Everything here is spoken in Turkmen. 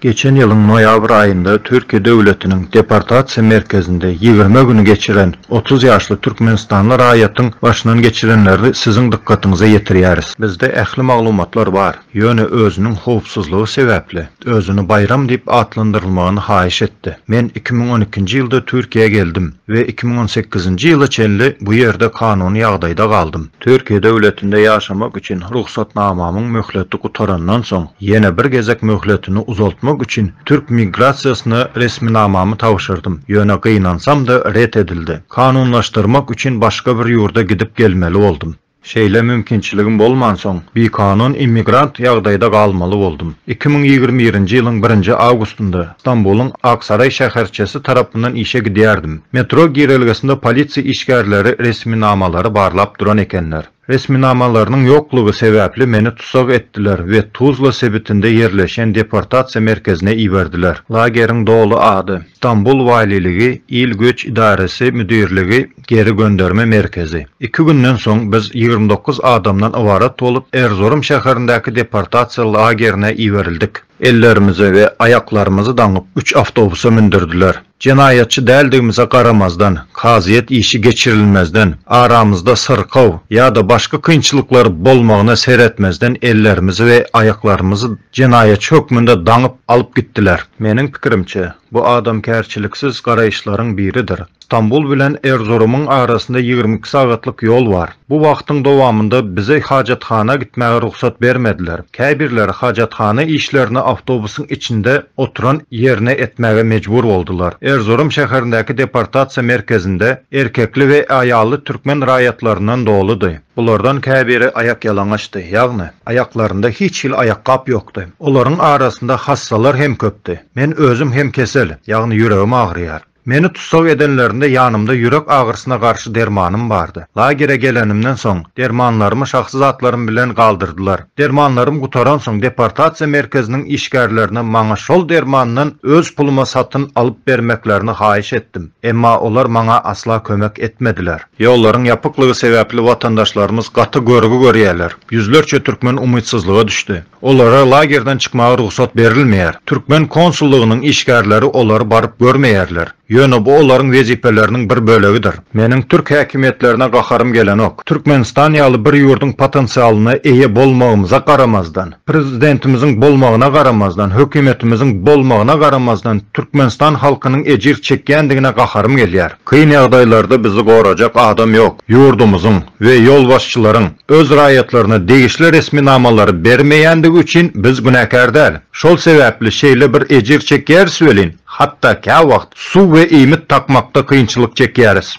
Geçen ýylyň noýabr aýynda Türkiýe döwletiniň deportasiýa merkezinde ýigrimi güni geçiren otuz ýaşly türkmenistanly raýatyň başyndan geçirenlerini siziň dykgatyňyza ýetirýäris. Bizde ähli maglumatlar bar, ýöne özüniň howpsuzlygy sebäpli, özüni Baýram diýip atlandyrylmagyny haýyş etdi. Men iki müň on ikinji ýylda Türkiýä geldim we iki müň on sekizinji ýyla çenli bu ýerde kanuny ýagdaýda galdym. Türkiýe döwletinde ýaşamak üçin rugsatnamamyň möhleti gutarandan soň, ýene bir gezek möhletini uzaltmak üçin türk migrasiýasyna resminamamy tabşyrdym, ýöne gynansam-da ret edildi. Kanunlaşdyrmak üçin başga bir ýurda gidip gelmeli boldum. Şeýle mümkinçiligim bolmansoň, bikanun immigrant ýagdaýda galmaly boldum. Iki müň ýigrimi birinji ýylyň birinji awgustynda Stambulyň Aksaraý şäherçesi tarapyndan işe gidýärdim. Metro girelgesinde polisiýa işgärleri resminamalary barlap duran ekenler. Resminamalarynyň ýoklugy sebäpli meni tussag etdiler we Tuzla sebitinde ýerleşýän deportasiýa merkezine iberdiler. Lageriň doly ady, Stambul waliligi, il göç idaresi müdirligi, Geri gönderme merkezi. Iki günden soň biz ýigrimi dokuz adamdan ybarat bolup Erzurum şäherindäki deportasiýa lagerine iberildik. Ellerimizi we aýaklarymyzy daňyp üç awtobusa mündürdiler. Jenaýatçy däldigimize garamazdan, kazyýet işi geçirilmezden, aramyzda syrkaw ýa-da başga kynçylyklar bolmagyna seretmezden ellerimizi we aýaklarymyzy jenaýatçy hökmünde daňyp alyp gitdiler. Meniň pikirimçe, bu adamkärçiliksiz garaýyşlaryň biridir. Stambul bilen Erzurumyň arasynda ýigrimi iki sagatlyk ýol bar. Bu wagtyň dowamynda bize hajathana gitmäge rugsat bermediler. Käbirleri hajathana işlerini awtobusyň içinde oturan ýerine etmäge mejbur boldular. Erzurum şäherindäki deportasiýa merkezinde erkekli we aýally türkmen raýatlaryndan doludy. Bulardan käbiri aýakýalaňaçdy, ýagny, aýaklarynda hiç hili aýakgap ýokdy. Olaryň arasynda hassalar hem köpdi. Men özüm hem kesel, ýagny ýüregim agyrýar. Meni tussag edenlerinde ýanymda ýürek agyrysyna garşy dermanym bardy. Lagere gelenimden soň, dermanlarymy şahsy zatlarym bilen galdyrdylar. Dermanlarym gutaransoň, deportasiýa merkeziniň işgärlerine maňa şol dermandan öz puluma satyn alyp bermeklerini haýyş etdim, emma olar maňa asla kömek etmediler. Ýollaryň ýapyklygy sebäpli watandaşlarymyz gaty görgi görýärler. Ýüzlerçe türkmen umytsyzlyga düşdi. Olara lagerden çykmaga rugsat berilmeýär. Türkmen konsullygynyň işgärleri olary baryp görmeýärler. Ýöne bu olaryň wezipeleriniň bir bölegidir. Meniň türk häkimiýetlerine gaharym gelenok. Türkmenistan ýaly bir ýurduň potensialyna eýe bolmagymyza garamazdan, prezidentimiziň bolmagyna garamazdan, hökümetimiziň bolmagyna garamazdan Türkmenistan halkynyň ejir çekýändigine gaharym gelýär. Kyn ýagdaýlarda bizi gorajak adam ýok. Ýurdumyzyň we ýolbaşçylaryň öz raýatlaryna degişli resminamalary bermeýändigi üçin biz günäkär däl. Şol sebäpli şeýle bir ejir çekýäris welin, hatda käwagt suw we iýmit tapmakda kynçylyk çekýäris.